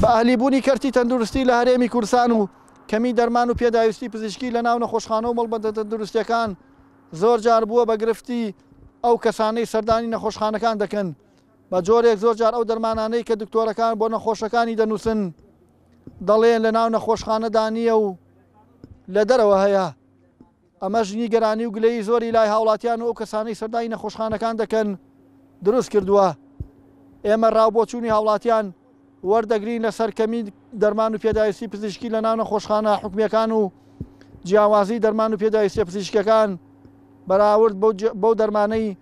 بە ئەهلی بوونی کەرتی تەندروستی لە هەرێمی کورسان و کەمی دەرمان و پێداویستی پزیشکی لە ناو نەخۆشخانە و مەڵبەندە تەندروستەکان زۆر جار بووە بە گرفتی ئەو کەسانەی سەردانی نەخۆشخانەکان دەکەن بە جۆرێک زۆر جار ئەو دەرمانانەی کە دکتۆرەکان بۆ نەخۆشەکانی دەنووسن دەڵێن لە ناو نەخۆشخانەدا نییە و لە دەرەوە هەیە ئەمەش نیگەرانی و گلەیی زۆری لای هاوڵاتیان و ئەو کەسانەی سەردانی نەخۆشخانەکان دەکەن دروست کردووە ئێمە ڕاو بۆچوونی هاوڵاتیان وەردەگرین لەسەر کەمی دەرمان و پێداویستی پزیشکی لە ناو نەخۆشخانە حکومیەکان و جیاوازی دەرمان و پێداویستە پزیشکەکان بەراورد بەو دەرمانەی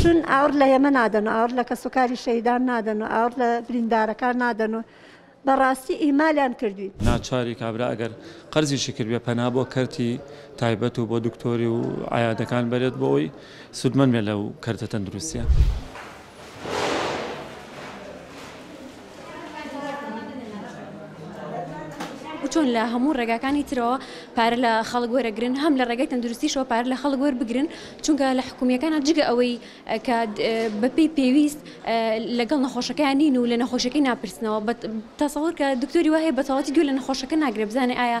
چون ئاوڕ لە ئێمە نادەن و ئاوڕ لە کەسوکاری شەهیدان نادەن و ئاوڕ لە بریندارەکان نادەن و بەڕاستی ئیمالیان کردوین. ناچاری کابرا ئەگەر قەرزیشی کردبێ پەنا بۆ کەرتی تایبەت و بۆ دکتۆری و عەیادەکان بەرێت بۆ ئەوەی سوودمەند بێت لەو کەرتە تەندروستیە. و چۆن لە هەموو ڕێگاکانی ترەوە پارە لە خەڵک وەرەگرن هەم لە ڕێگەی تەندروستیشەوە پارە لە خەڵک وەربگرن چونکە لە حکومیەکانە جگە ئەوەی کە بەپی پێویست لەگەڵ نەخۆشەکەیان نین و لە نەخۆشەکەی ناپرسنەوە بە تەسەور کە دکتۆری وهەیە بەتەواتی گوێ لە نەخۆشەکە ناگرێ بزانێ ئایا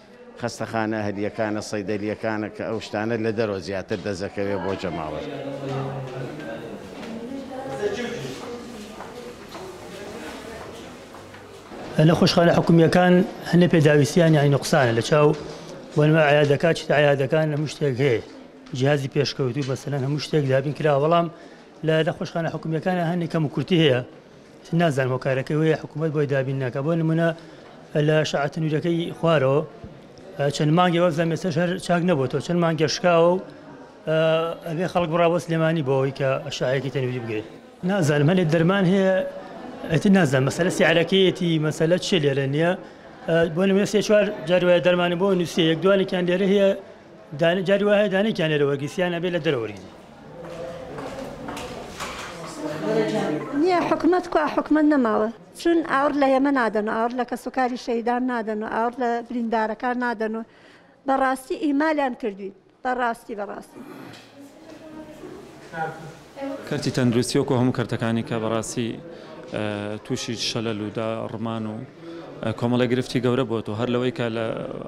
خەستەخانە ئەهلییەکانە، سەیدەلییەکانە کە ئەو شتانە لە دەرەوە زیاتر دەست دەکەوێت بۆ جەماوەر. نەخۆشخانە حکومییەکان هەندێک پێداویستییانیان نوقسانە لە چاو بۆ نموونە عەیادەکان چیتر عەیادەکان هەموو شتێک هەیە جیهازی پێشکەوتوو مەسەلەن هەموو شتێک دابین کراوە بەڵام لە نەخۆشخانە حکومییەکانە هەندێک کەموکورتی هەیە نازانم هۆکارەکەی وەیە حکوومەت بۆی دابین ناکە بۆ نمونە لە شعاتە نوورەکەی خوارەوە چەند مانگی وەک زەمێسە شەر چاک نەبوو تۆ چەند مانگە شکاوە و ئەبێ خەڵک بڕاوە سلێمانی بۆەوەی کە شاعەکی تەنویری بگرێت نازانم هەلێ دەرمان هەیە ئەتی نازان مەسەلە سیعرەکەیەتی مەسەلە چێ لێرە نییە بۆ نمێ سێ چوار جاروایە دەرمانی بۆ نووسێ یەک دوانێکیان لێرە هەیە دانێ جاری وایە دانێ کیان لێرە وەرگیسی یان ئەبێ لە دەرە وەرگیسی. نیە حکومەت کوا حکومەت نەماوە چون ئاور لە ئێمە نادەن و ئاور لە کەسوکاری شەیدان نادەن و ئاور لە بریندارەکان نادەن و بەڕاستی ئیمالیان کردوین بەڕاستی بەڕاستی. کەرتی تەندروستی وەکو هەموو کەرتەکانی کە بەڕاستی تووشی شەلەل و دا ڕمان و کۆمەڵی گرفتی گەورە بۆت و هەر لەوەی کە لە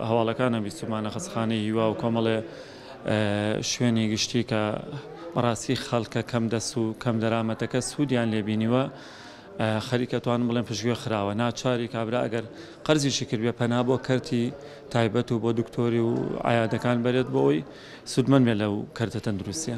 هەواڵەکانە بیستمانە خەسخانەی هیوا و کۆمەڵێ شوێنی گشتی کە بەڕاستی خەڵکە کەم دەست و کەم دەرامەتەکە سوودیان لێبینیوە خەریکە توان بڵێن پشتگوێ خراوە ناچاری کابرا ئەگەر قەرزیشی کردێ پەنا بۆ کەرتی تایبەت و بۆ دکتۆری و عیادەکان بەرێت بۆ ئەوی سوودمەند بێت لەو کەرتە تەندروستیە.